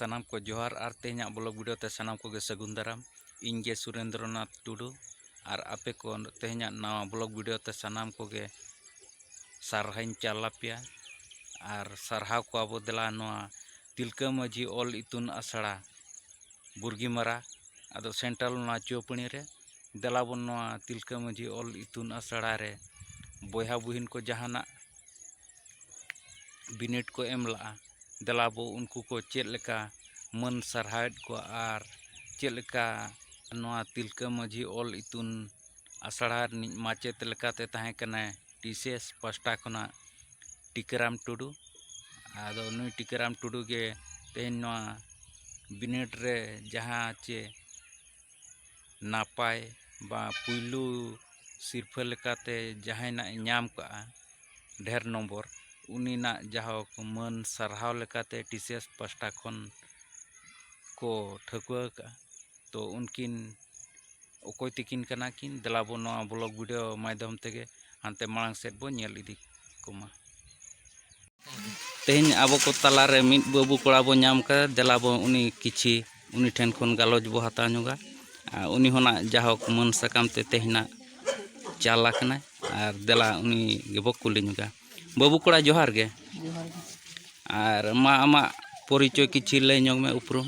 ᱥᱟᱱᱟᱢ ᱠᱚ ᱡᱚᱦᱟᱨ ᱟᱨ ᱛᱮᱦᱮᱧᱟᱜ ᱵᱞᱚᱜ ᱵᱷᱤᱰᱤᱭᱳ ᱛᱮ ᱥᱟᱱᱟᱢ ᱠᱚᱜᱮ ᱥᱟᱹᱜᱩᱱ ᱫᱟᱨᱟᱢ ᱤᱧ ᱜᱮ ᱥᱩᱨᱮᱱᱫᱨᱚᱱᱟᱛᱷ ᱴᱩᱰᱩ ᱟᱨ ᱟᱯᱮ ᱠᱚ ᱛᱮᱦᱮᱧᱟᱜ ᱱᱟᱣᱟ ᱵᱞᱚᱜ ᱵᱷᱤᱰᱤᱭᱳ ᱛᱮ ᱥᱟᱱᱟᱢ ᱠᱚᱜᱮ ᱥᱟᱨᱦᱟᱣᱤᱧ ᱪᱟᱞ ᱟᱯᱮᱭᱟ ᱟᱨ ᱥᱟᱨᱦᱟᱣ ᱠᱚᱣᱟ ᱵᱚ ᱫᱮᱞᱟ ᱱᱚᱣᱟ ᱛᱤᱞᱠᱟᱹ ᱢᱟᱹᱡᱷᱤ ᱚᱞ ᱤᱛᱩᱱ ᱟᱥᱲᱟ ᱵᱩᱨᱜᱤ ᱢᱟᱨᱟ ᱟᱫᱚ ᱥᱮᱱᱴᱟᱞ ᱚᱱᱟ ᱪᱩᱣᱟᱹᱯᱟᱹᱲᱤ ᱨᱮ ᱫᱮᱞᱟ ᱵᱚᱱ ᱱᱚᱣᱟ ᱛᱤᱞᱠᱟᱹ ᱢᱟᱹᱡᱷᱤ ᱚᱞ ᱤᱛᱩᱱ ᱟᱥᱲᱟ ᱨᱮ ᱵᱚᱭᱦᱟ ᱵᱩᱦᱤᱱ ᱠᱚ ᱡᱟᱦᱟᱱᱟᱜ ᱵᱤᱱᱤᱰ ᱠᱚ ᱮᱢ ᱞᱟᱜᱼᱟ ᱫᱮᱞᱟ ᱵᱚ ᱩᱱᱠᱩ ᱠᱚ ᱪᱮᱫ ᱞᱮᱠᱟ ᱢᱟᱹᱱ ᱥᱟᱨᱦᱟᱣᱮᱫ ᱠᱚᱣᱟ ᱟᱨ ᱪᱮᱫ ᱞᱮᱠᱟ ᱱᱚᱣᱟ ᱛᱤᱞᱠᱟᱹ ᱢᱟᱹᱡᱷᱤ ᱚᱞ ᱤᱛᱩᱱ ᱟᱥᱲᱟ ᱨᱤᱱᱤᱡ ᱢᱟᱪᱮᱫ ᱞᱮᱠᱟᱛᱮ ᱛᱟᱦᱮᱸ ᱠᱟᱱᱟᱭ ᱵᱤᱥᱮᱥ ᱯᱟᱥᱴᱟ ᱠᱷᱚᱱᱟᱜ ᱴᱤᱠᱟᱹᱨᱟᱢ ᱴᱩᱰᱩ ᱟᱫᱚ ᱱᱩᱭ ᱴᱤᱠᱟᱹᱨᱟᱢ ᱴᱩᱰᱩ ᱜᱮ ᱛᱮᱦᱮᱧ ᱱᱚᱣᱟ ᱵᱤᱱᱤᱰ ᱨᱮ ᱡᱟᱦᱟᱸ ᱪᱮ ᱱᱟᱯᱟᱭ ᱵᱟ ᱯᱩᱭᱞᱩ ᱥᱤᱨᱯᱷᱟᱹ ᱞᱮᱠᱟᱛᱮ ᱡᱟᱦᱟᱸᱭ ᱱᱟᱜ ᱮ ᱧᱟᱢ ᱠᱟᱜᱼᱟ ᱰᱷᱮᱨ ᱱᱚᱢᱵᱚᱨ ᱩᱱᱤ ᱱᱟᱜ ᱡᱟᱦᱳᱠ ᱢᱟᱹᱱ ᱥᱟᱨᱦᱟᱣ ᱞᱮᱠᱟᱛᱮ ᱴᱤ ᱥᱤ ᱮᱥ ᱯᱟᱥᱴᱟ ᱠᱷᱚᱱ ᱠᱚ ᱴᱷᱟᱹᱣᱠᱟᱹ ᱟᱠᱟᱜᱼᱟ ᱛᱚ ᱩᱱᱠᱤᱱ ᱚᱠᱚᱭ ᱛᱤᱠᱤᱱ ᱠᱟᱱᱟ ᱠᱤᱱ ᱫᱮᱞᱟ ᱵᱚᱱ ᱱᱚᱣᱟ ᱵᱞᱚᱜ ᱵᱷᱤᱰᱤᱭᱳ ᱢᱟᱫᱽᱫᱷᱚᱢ ᱛᱮᱜᱮ ᱦᱟᱱᱛᱮ ᱢᱟᱲᱟᱝ ᱥᱮᱫ ᱵᱚᱱ ᱧᱮᱞ ᱤᱫᱤ ᱠᱚᱢᱟ ᱛᱮᱦᱮᱧ ᱟᱵᱚ ᱠᱚ ᱛᱟᱞᱟᱨᱮ ᱢᱤᱫ ᱵᱟᱹᱵᱩ ᱠᱚᱲᱟ ᱵᱚᱱ ᱧᱟᱢ ᱠᱟᱫᱟ ᱫᱮᱞᱟ ᱵᱚᱱ ᱩᱱᱤ ᱠᱤᱪᱷᱤ ᱩᱱᱤ ᱴᱷᱮᱱ ᱠᱷᱚᱱ ᱜᱟᱞᱚᱪ ᱵᱚ ᱦᱟᱛᱟᱣ ᱧᱚᱜᱟ ᱟᱨ ᱩᱱᱤ ᱦᱚᱸᱱᱟᱜ ᱡᱟᱦᱳᱠ ᱢᱟᱹᱱ ᱥᱟᱠᱟᱢ ᱛᱮ ᱛᱮᱦᱮᱧᱟᱜ ᱪᱟᱞ ᱟᱠᱟᱱᱟᱭ ᱟᱨ ᱫᱮᱞᱟ ᱩᱱᱤ ᱜᱮᱵᱚ ᱠᱩᱞᱤ ᱧᱚᱜᱟ ᱵᱟᱹᱵᱩ ᱠᱚᱲᱟ ᱡᱚᱦᱟᱨ ᱜᱮ ᱟᱨ ᱢᱟ ᱟᱢᱟᱜ ᱯᱚᱨᱤᱪᱚᱭ ᱠᱤᱪᱷᱤ ᱞᱟᱹᱭ ᱧᱚᱜᱽ ᱢᱮ ᱩᱯᱨᱩᱢ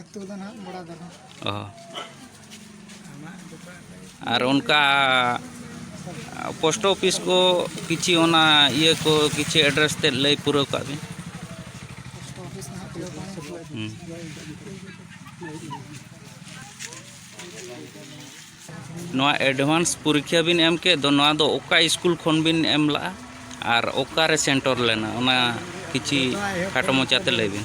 ᱟᱹᱛᱩ ᱫᱚ ᱱᱟᱦᱟᱜ ᱵᱚᱲᱟ ᱫᱟᱨᱟ ᱚ ᱟᱨ ᱚᱱᱠᱟ ᱯᱳᱥᱴ ᱚᱯᱷᱤᱥ ᱠᱚ ᱠᱤᱪᱷᱤ ᱚᱱᱟ ᱤᱭᱟᱹ ᱠᱚ ᱠᱤᱪᱷᱤ ᱮᱰᱨᱮᱥ ᱛᱮᱫ ᱞᱟᱹᱭ ᱯᱩᱨᱟᱹᱣ ᱠᱟᱜ ᱵᱤᱱ ᱯᱳᱥᱴ ᱚᱯᱷᱤᱥ ᱱᱟᱦᱟᱜ ᱠᱷᱩᱞᱟᱹᱣ ᱠᱟᱱᱟ ᱦᱩᱸ ᱱᱚᱣᱟ ᱮᱰᱵᱷᱟᱱᱥ ᱯᱚᱨᱤᱠᱠᱷᱟ ᱵᱤᱱ ᱮᱢ ᱠᱮᱫ ᱫᱚ ᱱᱚᱣᱟ ᱫᱚ ᱚᱠᱟ ᱥᱠᱩᱞ ᱠᱷᱚᱱ ᱵᱤᱱ ᱮᱢ ᱞᱟᱜᱼᱟ ᱟᱨ ᱚᱠᱟᱨᱮ ᱥᱮᱱᱴᱚᱨ ᱞᱮᱱᱟ ᱚᱱᱟ ᱠᱤᱪᱷᱤ ᱠᱷᱟᱴᱚ ᱢᱚᱪᱟᱛᱮ ᱞᱟᱹᱭ ᱵᱤᱱ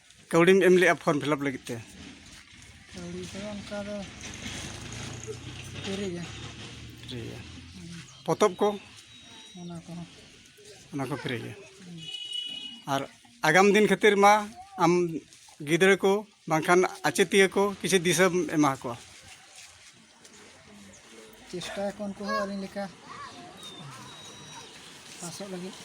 ᱠᱟᱹᱣᱰᱤᱢ ᱮᱢ ᱞᱮᱜᱼᱟ ᱯᱷᱚᱨᱢ ᱯᱷᱤᱞᱟᱯ ᱞᱟᱹᱜᱤᱫ ᱛᱮ ᱠᱟᱹᱣᱰᱤ ᱫᱚ ᱚᱱᱠᱟ ᱫᱚ ᱯᱷᱨᱤ ᱜᱮ ᱯᱷᱨᱤ ᱜᱮ ᱯᱚᱛᱚᱵ ᱠᱚ ᱚᱱᱟ ᱠᱚᱦᱚᱸ ᱚᱱᱟ ᱠᱚ ᱯᱷᱨᱤ ᱜᱮ ᱟᱨ ᱟᱜᱟᱢ ᱫᱤᱱ ᱠᱷᱟᱹᱛᱤᱨ ᱢᱟ ᱟᱢ ᱜᱤᱫᱽᱨᱟᱹ ᱠᱚ ᱵᱟᱝᱠᱷᱟᱱ ᱟᱪᱮᱛᱤᱭᱟᱹ ᱠᱚ ᱠᱤᱪᱷᱩ ᱫᱤᱥᱟᱹᱢ ᱮᱢᱟ ᱠᱚᱣᱟ ᱪᱮᱥᱴᱟᱭᱟᱠᱚ ᱩᱱᱠᱩ ᱦᱚᱸ ᱟᱹᱞᱤᱧ ᱞᱮᱠᱟ ᱯᱟᱥᱚᱜ ᱞᱟᱹᱜᱤᱫ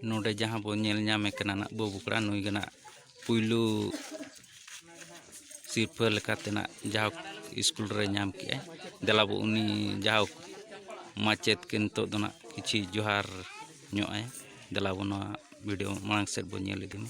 ᱱᱚᱰᱮ ᱡᱟᱦᱟᱸ ᱵᱚᱱ ᱧᱮᱞ ᱧᱟᱢᱮ ᱠᱟᱱᱟ ᱱᱟᱜ ᱵᱟᱹᱵᱩ ᱠᱚᱲᱟ ᱱᱩᱭ ᱜᱮ ᱱᱟᱜ ᱯᱩᱭᱞᱩ ᱥᱤᱨᱯᱷᱟᱹ ᱞᱮᱠᱟᱛᱮ ᱱᱟᱜ ᱡᱟᱦᱟᱸ ᱥᱠᱩᱞ ᱨᱮ ᱧᱟᱢ ᱠᱮᱜᱼᱟᱭ ᱫᱮᱞᱟ ᱵᱚ ᱩᱱᱤ ᱡᱟᱦᱟᱸ ᱢᱟᱪᱮᱫ ᱠᱤᱱ ᱱᱤᱛᱚᱜ ᱫᱚ ᱱᱟᱜ ᱠᱤᱪᱷᱤ ᱡᱚᱦᱟᱨ ᱧᱚᱜ ᱟᱭ ᱫᱮᱞᱟ ᱵᱚᱱ ᱱᱚᱣᱟ ᱵᱷᱤᱰᱤᱭᱳ ᱢᱟᱲᱟᱝ ᱥᱮᱫ ᱵᱚᱱ ᱧᱮᱞ ᱤᱫᱤ ᱢᱟ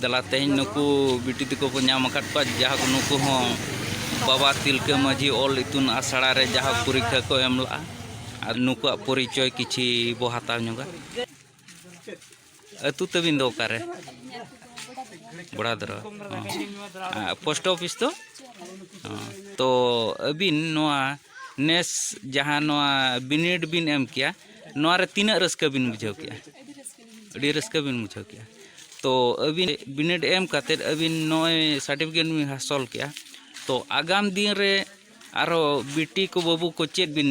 ᱫᱮᱞᱟ ᱛᱮᱦᱮᱧ ᱱᱩᱠᱩ ᱵᱤᱴᱤ ᱛᱟᱠᱚ ᱠᱚ ᱧᱟᱢ ᱟᱠᱟᱫ ᱠᱚᱣᱟ ᱡᱟᱦᱟᱸ ᱱᱩᱠᱩ ᱦᱚᱸ ᱵᱟᱵᱟ ᱛᱤᱞᱠᱟᱹ ᱢᱟᱹᱡᱷᱤ ᱚᱞ ᱤᱛᱩᱱ ᱟᱥᱲᱟ ᱨᱮ ᱡᱟᱦᱟᱸ ᱯᱚᱨᱤᱠᱠᱷᱟ ᱠᱚ ᱮᱢ ᱞᱟᱜᱼᱟ ᱟᱨ ᱱᱩᱠᱩᱣᱟᱜ ᱯᱚᱨᱤᱪᱚᱭ ᱠᱤᱪᱷᱤ ᱵᱚ ᱦᱟᱛᱟᱣ ᱧᱚᱜᱟ ᱟᱹᱛᱩ ᱛᱟᱹᱵᱤᱱ ᱫᱚ ᱚᱠᱟᱨᱮ ᱵᱚᱲᱟᱫᱨᱟ ᱯᱳᱥᱴ ᱚᱯᱷᱤᱥ ᱫᱚ ᱛᱚ ᱟᱹᱵᱤᱱ ᱱᱚᱣᱟ ᱱᱮᱥ ᱡᱟᱦᱟᱸ ᱱᱚᱣᱟ ᱵᱤᱱᱤᱰ ᱵᱤᱱ ᱮᱢ ᱠᱮᱭᱟ ᱱᱚᱣᱟ ᱨᱮ ᱛᱤᱱᱟᱹᱜ ᱨᱟᱹᱥᱠᱟᱹ ᱵᱤᱱ ᱵᱩᱡᱷᱟᱹᱣ ᱠᱮᱜᱼᱟ ᱟᱹᱰᱤ ᱨᱟᱹᱥᱠᱟᱹ ᱵᱤᱱ ᱵᱩᱡᱷᱟᱹᱣ ᱠᱮᱜᱼᱟ ᱛᱚ ᱟᱹᱵᱤᱱ ᱵᱤᱱᱤᱰ ᱮᱢ ᱠᱟᱛᱮᱫ ᱟᱹᱵᱤᱱ ᱱᱚᱜᱼᱚᱭ ᱥᱟᱨᱴᱤᱯᱷᱤᱠᱮᱴ ᱵᱤᱱ ᱦᱟᱥᱚᱞ ᱠᱮᱜᱼᱟ ᱛᱚ ᱟᱜᱟᱢ ᱫᱤᱱ ᱨᱮ ᱟᱨᱚ ᱵᱤᱴᱤ ᱠᱚ ᱵᱟᱹᱵᱩ ᱠᱚ ᱪᱮᱫ ᱵᱤᱱ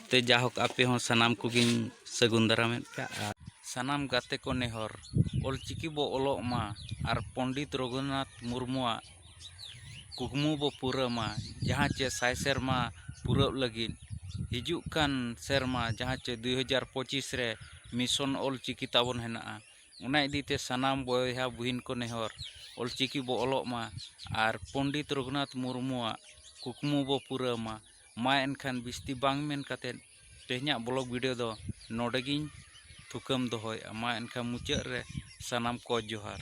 ᱛᱮ ᱡᱟᱦᱳᱠ ᱟᱯᱮ ᱦᱚᱸ ᱥᱟᱱᱟᱢ ᱠᱚᱜᱮᱧ ᱥᱟᱹᱜᱩᱱ ᱫᱟᱨᱟᱢᱮᱫ ᱯᱮᱭᱟ ᱟᱨ ᱥᱟᱱᱟᱢ ᱜᱟᱛᱮ ᱠᱚ ᱱᱮᱦᱚᱨ ᱚᱞ ᱪᱤᱠᱤ ᱵᱚ ᱚᱞᱚᱜ ᱢᱟ ᱟᱨ ᱯᱚᱱᱰᱤᱛ ᱨᱚᱜᱷᱩᱱᱟᱛᱷ ᱢᱩᱨᱢᱩᱣᱟᱜ ᱠᱩᱠᱢᱩ ᱵᱚ ᱯᱩᱨᱟᱹᱣ ᱢᱟ ᱡᱟᱦᱟᱸ ᱪᱮ ᱥᱟᱭ ᱥᱮᱨᱢᱟ ᱯᱩᱨᱟᱹᱜ ᱞᱟᱹᱜᱤᱫ ᱦᱤᱡᱩᱜ ᱠᱟᱱ ᱥᱮᱨᱢᱟ ᱡᱟᱦᱟᱸ ᱪᱮ ᱫᱩ ᱦᱟᱡᱟᱨ ᱯᱚᱸᱪᱤᱥ ᱨᱮ ᱢᱤᱥᱚᱱ ᱚᱞ ᱪᱤᱠᱤ ᱛᱟᱵᱚᱱ ᱦᱮᱱᱟᱜᱼᱟ ᱚᱱᱟ ᱤᱫᱤ ᱛᱮ ᱥᱟᱱᱟᱢ ᱵᱚᱭᱦᱟ ᱵᱩᱦᱤᱱ ᱠᱚ ᱱᱮᱦᱚᱨ ᱚᱞ ᱪᱤᱠᱤ ᱵᱚ ᱚᱞᱚᱜ ᱢᱟ ᱟᱨ ᱯᱚᱱᱰᱤᱛ ᱨᱚᱜᱷᱩᱱᱟᱛᱷ ᱢᱩᱨᱢᱩᱣᱟᱜ ᱠᱩᱠᱢᱩ ᱵᱚ ᱯᱩᱨᱟᱹᱣ ᱢᱟ ᱢᱟ ᱮᱱᱠᱷᱟᱱ ᱵᱤᱥᱛᱤ ᱵᱟᱝ ᱢᱮᱱ ᱠᱟᱛᱮᱫ ᱛᱮᱦᱮᱧᱟᱜ ᱵᱞᱚᱜᱽ ᱵᱷᱤᱰᱤᱭᱳ ᱫᱚ ᱱᱚᱰᱮ ᱜᱮᱧ ᱛᱷᱩᱠᱟᱹᱢ ᱫᱚᱦᱚᱭᱮᱫᱼᱟ ᱢᱟ ᱮᱱᱠᱷᱟᱱ ᱢᱩᱪᱟᱹᱫ ᱨᱮ ᱥᱟᱱᱟᱢ ᱠᱚ ᱡᱚᱦᱟᱨ